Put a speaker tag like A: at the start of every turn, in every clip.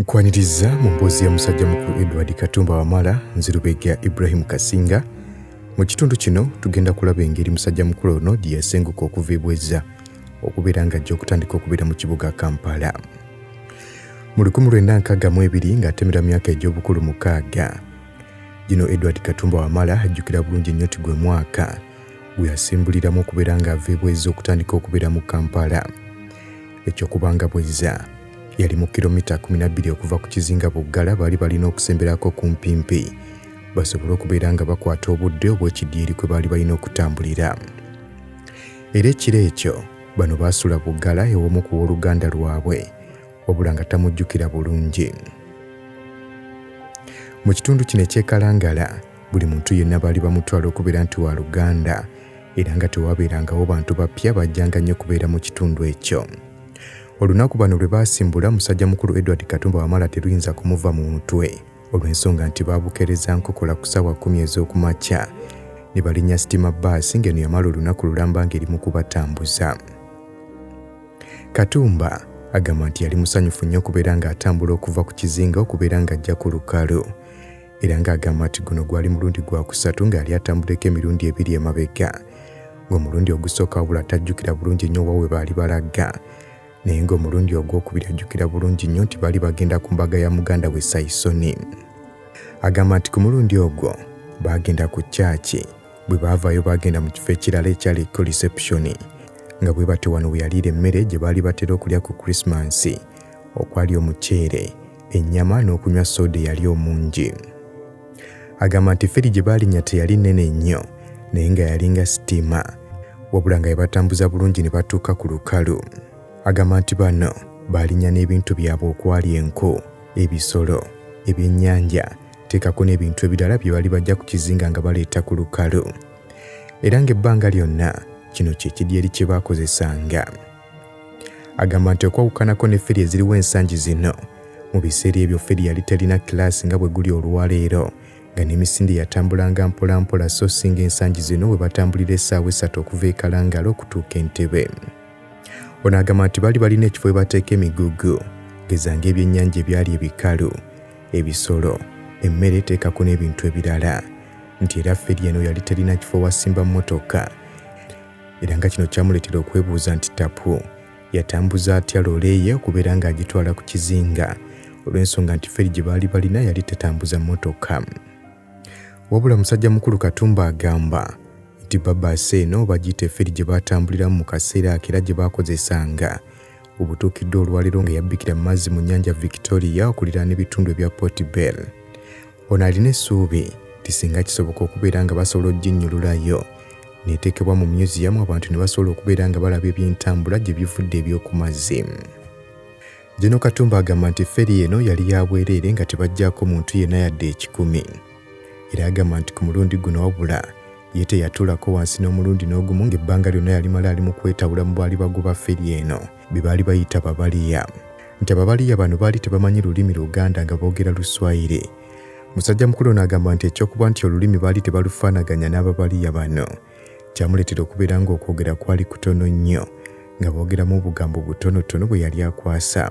A: nkwaniriza mu mboozi ya musajja mukulu edward katumba wamala nzirubegya ibrahimu kasinga mu kitundu kino tugenda kulaba engeri musajja mukulu ono gye yasenguka okuva ebweza okubeera nga ajja okutandika okubeera mu kibuga kampala mu 1962 ng'atemera myaka egy'obukulu mukaaga Gino Edward Katumba Wamala ajjukira bulungi nnyo ti gwe mwaka gwe yasimbuliramu okubeera ng'ava ebwezza okutandika okubeera mu Kampala. Ekyokubanga bwezza yali mu kilomita 12 okuva ku kizinga Buggala baali balina okusemberako kumpimpi basobole okubeera nga bakwata obudde obw'ekidyeri kwe baali balina okutambulira. Era ekiro ekyo bano baasula Buggala ew'omu ku w'oluganda lwabwe. wabula nga tamujjukira bulungi mu kitundu kino ekyekalangala buli muntu yenna baali bamutwala okubeera nti wa luganda era nga tewabeerangawo bantu bapya bajjanga nnyo kubeera mu kitundu ekyo olunaku bano lwe baasimbula musajja mukulu edward katumba wamala teruyinza kumuva mu mutwe olw'ensonga nti baabukereza nkokola ku ssaawa kumi ez'okumakya ne balinnya sitima baasi ng'eno yamala olunaku lulamba ng'eri mu kubatambuza Katumba agamba nti yali musanyufu nnyo okubeera ng'atambula okuva ku kizinga okubeera ng'ajja ku lukalu era ng'agamba nti guno gwali mulundi gwa kusatu ng'ali atambuleko emirundi ebiri emabega ng'omulundi ogusooka wabula tajjukira bulungi nnyo wawe baali balagga naye ng'omulundi ogw'okubiri ajjukira bulungi nnyo nti baali bagenda ku mbaga ya muganda we saisoni agamba nti ku mulundi ogwo baagenda ku kyaki bwe baavaayo baagenda mu kifo ekirala ekyaliko lisepusoni nga bwe batyo wano we yaliira emmere gye baali batera okulya ku krisimansi okwali omuceere ennyama n'okunywa sooda eyali omungi agamba nti feri gye baalinya teyali nnene nnyo naye nga yalinga sitiima wabula nga yabatambuza bulungi ne batuuka ku lukalu agamba nti bano baalinya n'ebintu byabwe okwali enku ebisolo ebyennyanja teekako n'ebintu ebirala bye bali bajja ku kizinga nga baleeta ku lukalu era ng'ebbanga lyonna kino kye kidyeri kye baakozesanga agamba nti okwawukanako ne feri eziriwo ensangi zino mu biseera ebyo feri yali terina kilaasi nga bwe guli olwaleero nga n'emisinde yatambulanga mpolampola so singa ensangi zino we batambulira essaawa essatu okuva e kalangala okutuuka entebe ono agamba nti baali balina ekifo we bateeka emigugu gezanga ebyennyanja ebyali ebikalu ebisolo emmere eteekako n'ebintu ebirala nti era feri eno yali terina kifo wasimba mmotoka era nga kino kyamuleetera okwebuuza nti tapu yatambuza atya loole eye okubeera ng'agitwala ku kizinga olw'ensonga nti feri gye baali balina yali tetambuza mmotoka wabula musajja mukulu katumba agamba nti babaasi eno bagiyita eferi gye baatambuliramu mu kaseera akera gye baakozesanga obutuukidde olwaleero nga yabbikira mu mazzi mu nnyanja victoria okuliraana ebitundu ebya port bell ono alina essuubi nti singa kisoboka okubeera nga basobola okuginnyululayo neteekebwa mu myuziyamu abantu ne basobola okubeera nga balaba ebyentambula gye bivudde eby'oku mazzi gino katumba agamba nti feri eno yali yabwereere nga tebajjaako muntu yenna yadde ekikumi Era agamba nti ku mulundi guno wabula ye teyatuulako wansi n'omulundi n'ogumu ng'ebbanga lyonna yalimala ali mu kwetawula mu baali bagoba fferi eno be baali bayita Babaliya. Nti Ababaliya bano baali tebamanyi lulimi Luganda nga boogera Luswayiri. Musajjamukulu ono agamba nti eky'okuba nti olulimi baali tebalufaanaganya n'Ababaliya bano, kyamuleetera okubeera ng'okwogera kwali kutono nnyo nga boogeramu obugambo butonotono bwe yali akwasa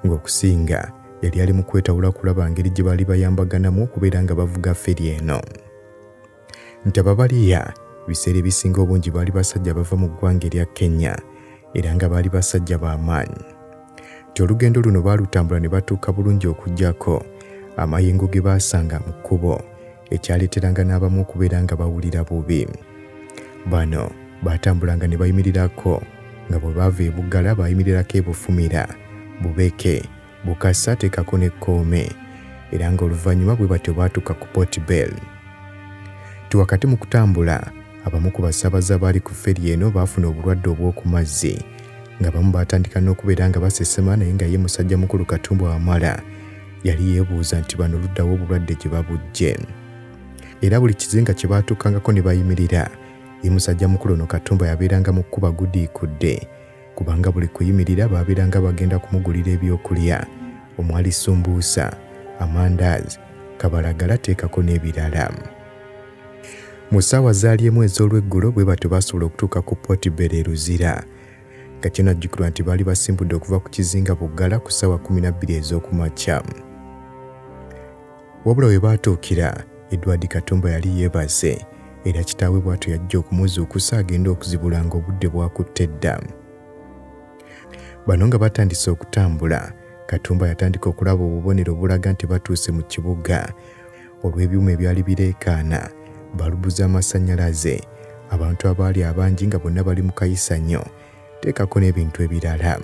A: ng'okusinga yali ali mu kwetawula kulaba ngeri gye baali bayambaganamu okubeera nga bavuga feri eno ntababaliya ebiseera ebisinga obungi baali basajja bava mu ggwanga erya kenya era nga baali basajja b'amaanyi nti olugendo luno baalutambula ne batuuka bulungi okugyako amayengo ge baasanga mu kkubo ekyaleeteranga n'abamu okubeera nga bawulira bubi. Bano baatambulanga ne bayimirirako nga bwe baava ebuggala baayimirirako ebufumira bubeke bukasa teekako ne koome era ng'oluvannyuma bwe batyo baatuuka ku portbel ti wakati mu kutambula abamu ku basaabaza baali ku feri eno baafuna obulwadde obw'oku mazzi ng'abamu baatandika n'okubeera nga basesema naye nga ye musajja mukulu katumbu amala Yali yeebuuza nti bano luddawa obulwadde gye babuggye. Era buli kizinga kye baatuukangako ne bayimirira, ye musajja mukulu ono Katumba yabeeranga mu kukuba gudiikudde kubanga buli kuyimirira baabeeranga bagenda kumugulira ebyokulya omwali sumbuusa, amandaazi, kabalagala teekako n'ebirala. Mu ssaawa zaali emu ez'olweggulo bwe batyo baasobola okutuuka ku Port Bell e Luzira nga kinajjukirwa nti baali basimbudde okuva ku kizinga Buggala ku ssaawa kumi na bbiri ez'okumakya wabula we baatuukira Edward Katumba yali yeebaze era kitaawe bw'atyo yajja okumuzuukusa agenda okuzibula ng'obudde bwakutte dda bano nga batandise okutambula katumba yatandika okulaba obubonero obulaga nti batuuse mu kibuga olw'ebyuma ebyali bireekaana, balubu z'amasannyalaze, abantu abaali abangi nga bonna bali mu kayisanyo, teekako n'ebintu ebirala.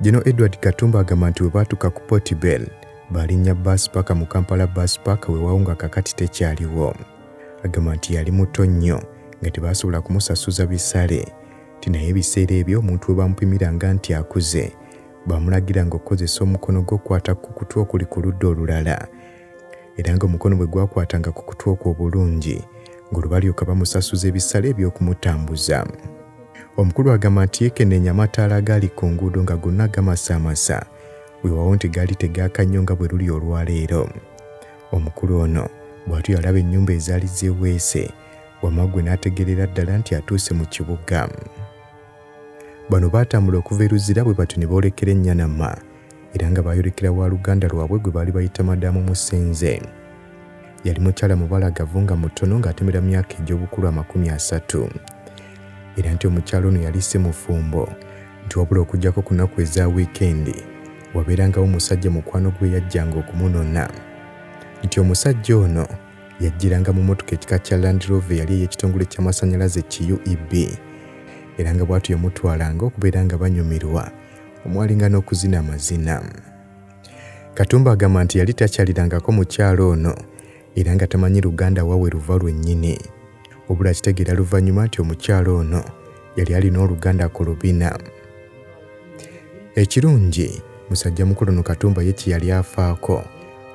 A: Gino Edward Katumba agamba nti bwe baatuuka ku Portibel, baalinnya bbaasi paka mu Kampala Bus Park weewaawo nga kakati tekyaliwo. Agamba nti yali muto nnyo nga tebaasobola kumusasuza bisale nti naye ebiseera ebyo omuntu we baamupimiranga nti akuze Baamulagira nga okukozesa omukono gwe okukwata ku kutu okuli ku ludda olulala, era nga omukono bwe gwakwatanga ku kutu okwo obulungi, ng'olwo balyoka bamusasuza ebisale eby'okumutambuza. Omukulu agamba nti yeekenneenya amataala agaali ku nguudo nga gonna gamasaamasa, weewaawo nti gaali tegaaka nnyo nga bwe luli olwaleero. Omukulu ono bw'atyo yalaba ennyumba ezaali zeeweese, wamma ggwe n'ategeerera ddala nti atuuse mu kibuga. Bano baatambula okuva e Luzira bwe batyo ne boolekera Ennyanama era nga baayolekera wa luganda lwabwe gwe baali bayita Madaamu Musenze. Yali mukyala mubalagavu nga mutono ng'atemera myaka egy'obukulu amakumi asatu era nti omukyala ono yali si mufumbo nti wabula okujjako ku nnaku eza wiikendi wabeerangawo musajja mukwano gwe yajjanga okumunona nti omusajja ono yajjiranga mu mmotoka ekika kya Land Rover eyali ey'ekitongole ky'amasannyalaze ki UEB era nga bw'atyo yamutwalanga okubeera nga banyumirwa omwalinga n'okuzina amazina. Katumba agamba nti yali takyalirangako mukyalo ono era nga tamanyi luganda wa we luva lwennyini. wabula kitegeera luvannyuma nti omukyala ono yali alina oluganda ku lubina ekirungi musajja mukulu no katumba ye kye yali afaako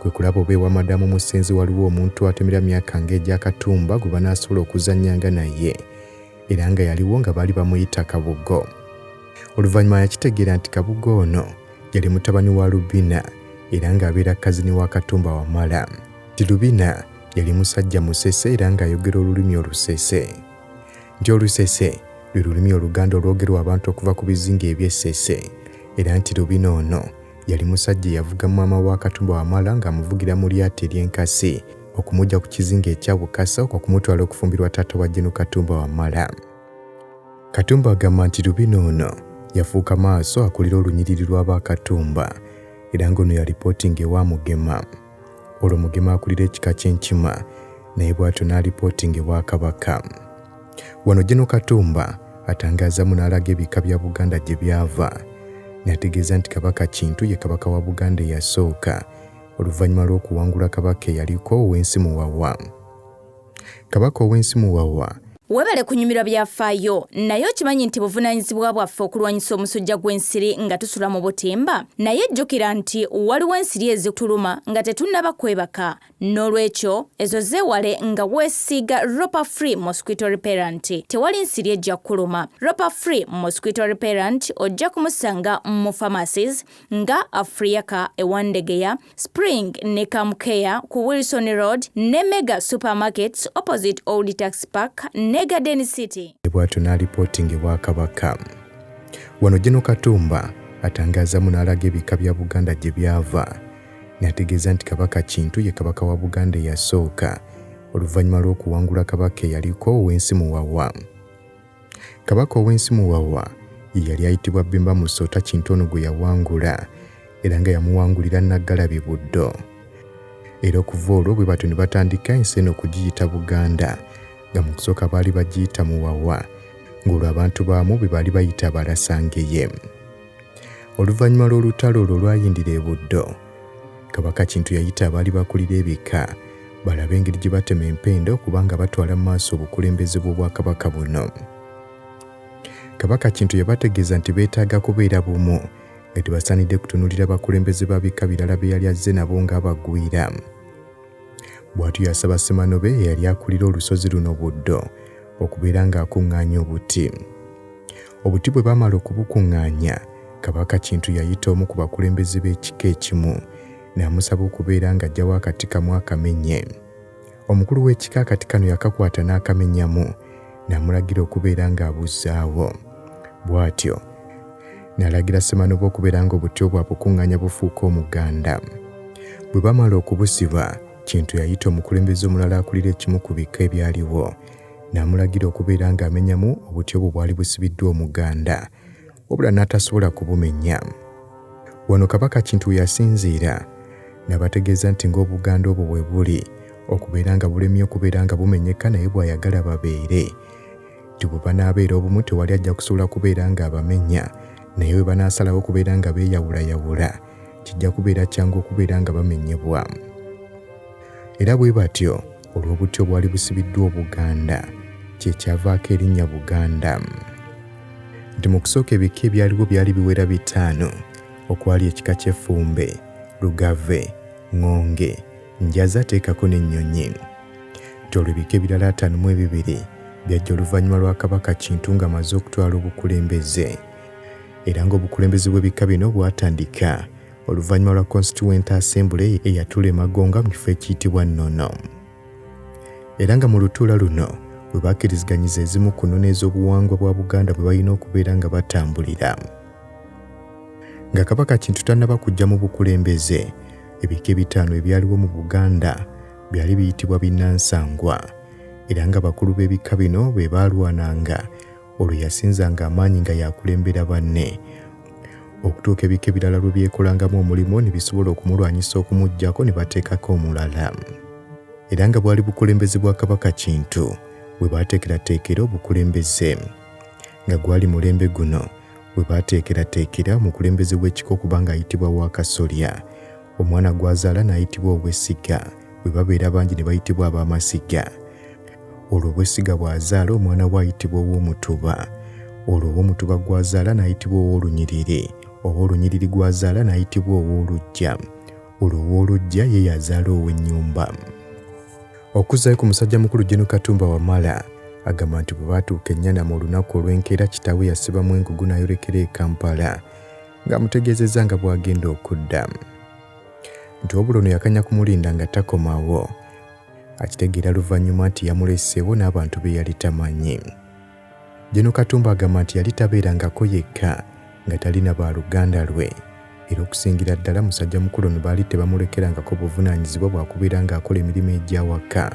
A: kwe kulaba oba ewa madamu musenzi waliwo omuntu atemera myaka ng'egya katumba gwe banaasobola okuzannyanga naye era nga yaliwo nga baali bamuyita kabugo oluvannyuma yakitegeera nti kabugo ono yali mutabani wa lubina era ng'abeera kazini wa katumba wamala ti lubina Yali musajja musese era ng'ayogera olulimi olusese. Nti olusese lwe lulimi Oluganda olwogerwa abantu okuva ku bizinga eby'essese era nti lubino ono yali musajja eyavuga mu maama wa Katumba Wamala ng'amuvugira mu lyato ery'enkasi okumujja ku kizinga ekya Bukasa okwo kumutwala okufumbirwa taata wa Jeno Katumba Wamala. Katumba agamba nti lubino ono yafuuka maaso akulira olunyiriri lw'aba Katumba era ng'ono yalipootinga ewa Mugema. olwo Mugema akulira ekika ky'Enkima naye bw'atyo n'alipootinga ewa Kabaka. Wano Jeno Katumba atangaazamu n'alaga ebika bya Buganda gye byava n'ategeeza nti Kabaka Kintu ye Kabaka wa Buganda eyasooka oluvannyuma lw'okuwangula Kabaka eyaliko ow'ensi Muwawa. Kabaka ow'ensi Muwawa. Webale kunyumirwa
B: byafaayo, naye okimanyi nti buvunaanyizibwa bwaffe okulwanyisa omusujja gw'ensiri nga tusula mu butimba? Naye jjukira nti waliwo ensiri ezituluma nga tetunnaba kwebaka. N'olwekyo, ezo zeewale nga weesiiga Ropa Free Mosquito Repellent. Tewali nsiri ejja kukuluma. Ropa Free Mosquito Repellent ojja kumusanga mu pharmacies nga Afriaca e Wandegeya, Spring ne Camcare ku Wilson Road ne Mega Supermarkets opposite Old Tax Park ne Garden City. Bwatyo n'alipootinga
A: Obwakabaka. Wano General Katumba atangaazamu n'alaga ebika bya Buganda gye byava n'ategeeza nti Kabaka Kintu ye Kabaka wa Buganda eyasooka oluvannyuma lw'okuwangula Kabaka eyaliko ow'ensi Muwawa. Kabaka ow'ensi Muwawa ye yali ayitibwa Bimba Musota Kintu ono gwe yawangula era nga yamuwangulira Naggalabi Buddo era okuva olwo bwe batyo ne batandika ensi eno okugiyita Buganda nga mu kusooka baali bagiyita Muwawa ng'olwo abantu baamu be baali bayita Abalasangeye. Oluvannyuma lw'olutalo olwo olwayindira e Buddo, Kabaka Kintu yayita abaali bakulira ebika balabe engeri gye batema empenda okuba nga batwala mu maaso obukulembeze bw'Obwakabaka buno. Kabaka Kintu yabategeeza nti beetaaga kubeera bumu nga tebasaanidde kutunuulira bakulembeze ba bika birala be yali azze nabo ng'abagwira. Bw'atyo yasaba Ssemanobe eyali akulira olusozi luno Buddo okubeera ng'akuŋŋaanya obuti. Obuti bwe baamala okubukuŋŋaanya, Kabaka Kintu yayita omu ku bakulembeze b'ekika ekimu n'amusaba okubeera ng'aggyawo akati kamu akamenye. Omukulu w'ekika akati kano yakakwata n'akamenyamu n'amulagira okubeera ng'abuzzaawo. Bw'atyo Nalagira Ssemanobe okubeera nga obuti obwa bukuŋŋaanya bufuuka omuganda. Bwe bamala okubusiba, Kintu yayita omukulembeze omulala akulira ekimu ku bika ebyaliwo n'amulagira okubeera ng'amenyamu obuti obwo bwali busibiddwa omuganda wabula n'atasobola kubumenya. Wano Kabaka Kintu we yasinziira n'abategeeza nti ng'Obuganda obwo bwe buli okubeera nga bulemye okubeera nga bumenyeka naye bw'ayagala babeere nti bwe banaabeera obumu tewali ajja kusobola kubeera ng'abamenya naye bwe banaasalawo okubeera nga beeyawulayawula kijja kubeera kyangu okubeera nga bamenyebwa era bwe batyo olw'obutya obwali busibiddwa obuganda kye kyavaako erinnya buganda nti mu kusooka ebika ebyaliwo byali biwera bitaano okwali ekika ky'effumbe lugave ŋŋonge Njaza teekako n'ennyonyi. Tola ebika ebirala ataano mu ebibiri byajja oluvannyuma lwa Kabaka Kintu ng'amaze okutwala obukulembeze. Era ng'obukulembeze bw'ebika bino bwatandika oluvannyuma lwa Constituent Assembly eyatula e Magonga mu kifo ekiyitibwa Nnono. Era nga mu lutuula luno we bakkiriziganyiza ezimu ku nnono ez'obuwangwa bwa Buganda bwe balina okubeera nga batambulira. Nga Kabaka Kintu tannaba kujja mu bukulembeze, ebika ebitaano ebyaliwo mu Buganda byali biyitibwa binnansangwa, era nga bakulu b'ebika bino be baalwananga olwo yasinzanga amaanyi nga yakulembera banne okutuuka ebika ebirala lwe byekolangamu omulimu ne bisobola okumulwanyisa okumuggyako ne bateekako omulala era nga bwali bukulembeze bwa kabaka kintu we baateekerateekera obukulembeze nga gwali mulembe guno we baateekerateekera omukulembeze w'ekika okuba ng'ayitibwa Waakasolya. Omwana gw'azaala n'ayitibwa Ow'essiga, bwe babeera bangi ne bayitibwa Ab'amasiga. Olwo Ow'essiga bw'azaala omwana we ayitibwa Ow'omutuba. Olwo Ow'omutuba gw'azaala n'ayitibwa Ow'olunyiriri. Ow'olunyiriri gw'azaala n'ayitibwa Ow'oluggya. Olwo Ow'oluggya ye y'azaala Ow'ennyumba. Okuzaayo ku musajja mukulu Gen Katumba Wamala agamba nti bwe baatuuka ennyana mu olunaku olw'enkeera kitaawe yasibamu enkugu n'ayolekera e Kampala ng'amutegeezezza nga bw'agenda okudda nti wabula ono yakanya kumulinda nga takomawo akitegeera luvannyuma nti yamuleseewo n'abantu be yali tamanyi. Gen Katumba agamba nti yali tabeerangako yekka nga tali na ba luganda lwe era okusingira ddala musajja mukulu ono baali tebamulekerangako buvunaanyizibwa bwa kubeera ng'akola emirimu egy'awaka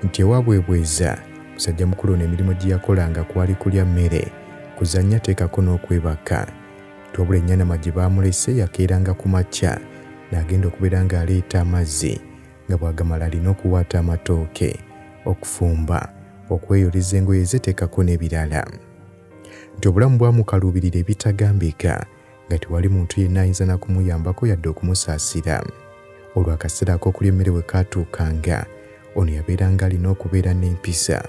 A: nti ewa Bwebweza musajja mukulu ono emirimu gye yakolanga kwali kulya mmere, kuzannya teekako n'okwebaka nti wabula ennyanama gye baamulese yakeeranga ku makya n'agenda okubeera ng'aleeta amazzi. nga bwagamala alina okuwaata amatooke, okufumba, okweyoliza engoye ze tekako nebirala. Nti obulamu bwamukaluubirira ebitagambika nga tewali muntu yenna ayinza nakumuyambako yadde okumusaasira. Olwo akaseera ak'okulya emmere we kaatuukanga, ono yabeeranga alina okubeera n'empisa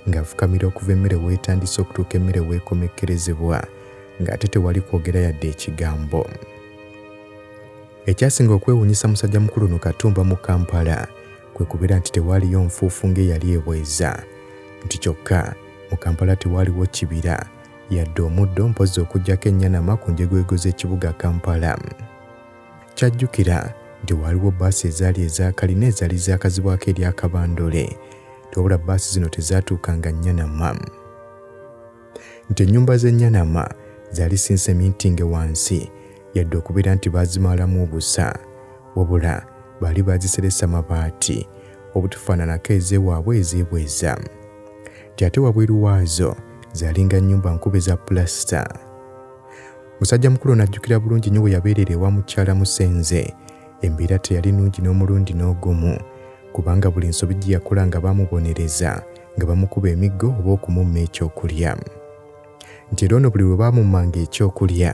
A: ng'afukamira okuva emmere weetandise okutuuka emmere weekomekkerezebwa ng'ate tewali kwogera yadde ekigambo. Ekyasinga okwewunyisa musajja mukulu ono Katumba mu Kampala kwe kubeera nti tewaaliyo nfuufu ng'eyali ebweza nti kyokka mu Kampala tewaaliwo kibira yadde omuddo mpozzi okugyako ennyanama ku njegoyego z'ekibuga Kampala. Kyajjukira nti waaliwo bbaasi ezaali eza kalina ezaali zaakazibwako erya Kabandole wabula bbaasi zino tezaatuukanga nnyanama. nti ennyumba z'ennyanama zaali sinsemintinge wansi yadde okubeera nti baazimaalamu obusa wabula baali baaziseresa mabaati obutafaananako ezewaabwe ezeebweza nti ate wabweru waazo zaalinga nnyumba nkube za pulasita musajja mukulu onajjukira bulungi nnyo bwe yabeerera ewa mukyala musenze embeera teyali nungi n'omulundi n'ogumu kubanga buli nsobi gye yakola nga baamubonereza nga bamukuba emiggo oba okumumma ekyokulya nti era ono buli lwe baamummanga ekyokulya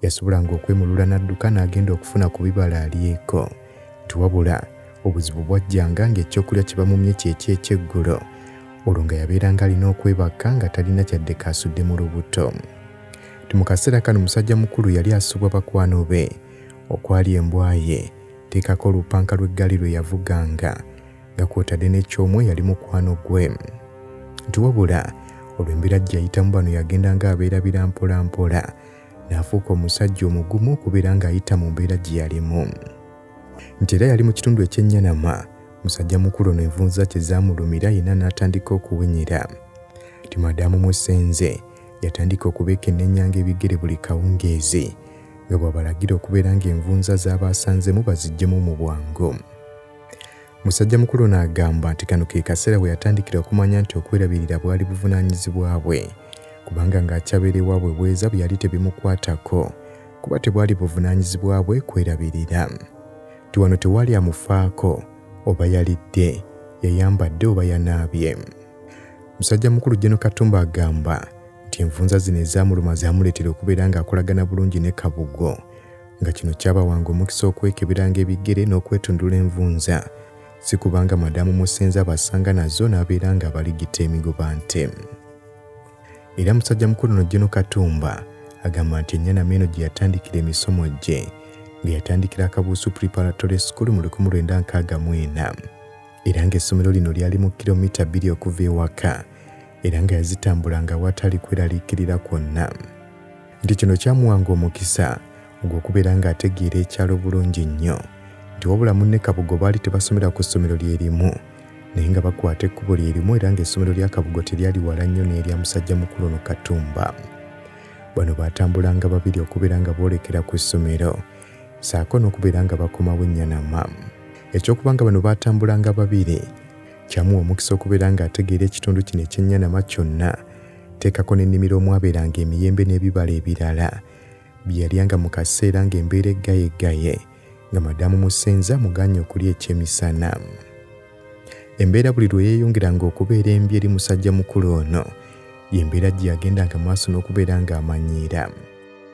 A: yasobolanga okwemulula n'adduka n'agenda okufuna ku bibala alyeko nti wabula obuzibu bwajjanga ng'ekyokulya kye bamumye kyekyo ekyeggulo olwo nga yabeeranga alina okwebakka nga talina kyadde kaasudde mu lubuto nti mu kaseera kano musajja mukulu yali asubwa bakwano be okwali embwa ye teekako olupanka lw'eggali lwe yavuganga nga kwotadde ne kyomu eyali mukwano gwe nti wabula olwo embeera gyeyayitamu bano yagenda nga abeerabira mpolampola n'afuuka omusajja omugumu okubeera ng'ayita mu mbeera gye yalimu nti era yali mu kitundu ekyenyanama musajja mukulu ono envunza kye zaamulumira yena n'atandika okuwenyera nti madaamu musenze yatandika okubeekennenyanga ebigere buli kawungeezi nga bw'abalagira okubeera ng'envunza z'aba asanzemu baziggyemu mu bwangu Musajja mukulu ono agamba nti kano ke kaseera we yatandikira okumanya nti okwerabirira bwali buvunaanyizibwa bwe kubanga ng'akyabeera ewaabwe bweza byali tebimukwatako kuba tebwali buvunaanyizibwa bwe kwerabirira nti wano tewali amufaako oba yalidde yayambadde oba yanaabye musajja mukulu jeno katumba agamba nti envunza zino ezaamuluma zaamuleetera okubeera ng'akolagana bulungi ne kabugo nga kino kyabawanga omukisa okwekeberanga ebigere n'okwetundula envunza si kubanga madamu musenze abasanga nazo n'abeera nga abaligita emigoba nte era musajja mukulu no jeno katumba agamba nti enyanama eno gye yatandikira emisomo gye nga yatandikira akabuusu preparatory school mu 1964 era ng'essomero lino lyali mu kilomita bbiri okuva ewaka era nga yazitambulanga awatali kweraliikirira kwonna nti kino kyamuwanga omukisa ogw'okubeera ng'ategeera ekyalo bulungi nnyo nti wabula munne kabugo baali tebasomera ku ssomero lye limu naye nga bakwata ekkubo lye limu era ng'essomero lya kabugo teryali wala nnyo n'erya musajja mukulu ono katumba bano baatambulanga babiri okubeera nga boolekera ku ssomero saako n'okubeera nga bakomawo ennyanama eky'okuba nga bano baatambulanga babiri Kyamuwa omukisa okubeera ng'ategeera ekitundu kino ekyenyanama kyonna. Teekako n'ennimiro omwabeeranga emiyembe n'ebibala ebirala bye yalyanga mu kaseera ng'embeera eggayeggaye nga Madaamu Musenza amugaanye okulya ekyemisana. Embeera buli lwe yeeyongeranga okubeera embi eri musajja mukulu ono, y'embeera gye yagendanga maaso n'okubeera ng'amanyiira.